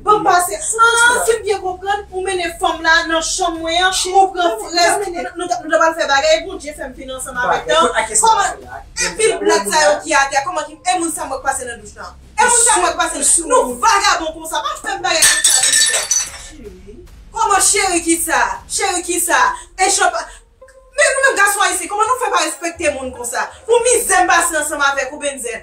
Banm pase Haa sim byen konprann ou mennen fanm la nan chanm mwen an ou pran frèz nou ta pral fè bagay Bondye fèm fin ansanm avèk tan kòman epil blag sa yo ki atè kòman ki e moun sa mwen k pase nan douch lan e moun sa mwen k pase nou vagabon konsa pa fèm bagay konsa blozè kòman cheri kisa cheri kisa e chan pa men nou menm gason ayisyen kòman nou fè pa respekte moun konsa pou mizè m pase ansanm avèk ou bndye.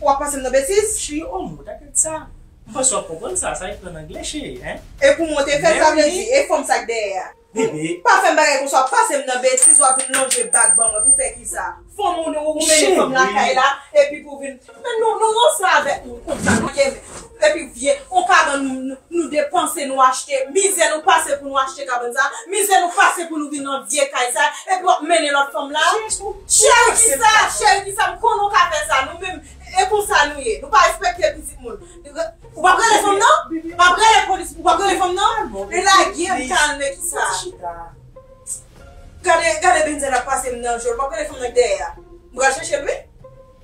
Wap pase m nan betiz? Cheri oh mou ta tèt sa. M panse wap konprann sa, sa ekri an anglè cheri hein. Epou mwen te fèl sa vle di e fanm sa k dèyè a. Bebe. Pa fèm bagay konsa wap pase m nan betiz wap vin lonje bak ban mwen pou fè kisa? Fanm ou mennen fanm lakay la epi pou vin. Men nou ranse avèk mwen konsa nou ye menm. Depi w vye, on kabann nou depanse nou achte, mizè nou pase pou nou achte kabann sa, mizè nou pase pou nou vin nan vye kay sa, epi wap mennen lòt fanm la, cheri kisa, cheri kisa, m konnen w ka fè sa, nou menm e konsa nou ye, nou pa respekte pitit moun, ou pap rele fanm nan, pap rele polis, ou pap rele fanm nan, e lage m kalme kisa, gade, gade benzèl ap pase m nan je l, wap rele fanm nan k dèyè a, m pral chèche l wi.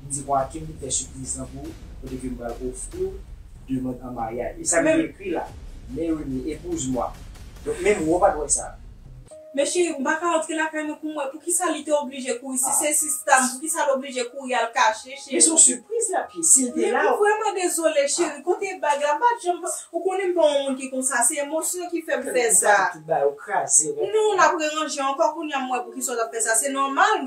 M di Joaquim m fè sipriz lan pou ou kote ke m pral ofri w demand an maryaj. E sa li ekri la, Merimee, épouse moi. Donk menm wou pat wè sa. Men cheri m paka antre lakay mwen pou m wè poukisa li te oblije kouri si se sista m poukisa l oblije kouri al kache cheri. Men son sipriz lap ye sil te la. Men m vrèman dezole cheri kote bag la m pat janm ou konnen m pa yon moun ki konsa se emosyon ki fè m fè sa. Kèm tou bal ou kraze. Non lap reranje ankò kounya m wè poukisa w tap fè sa se nòmal.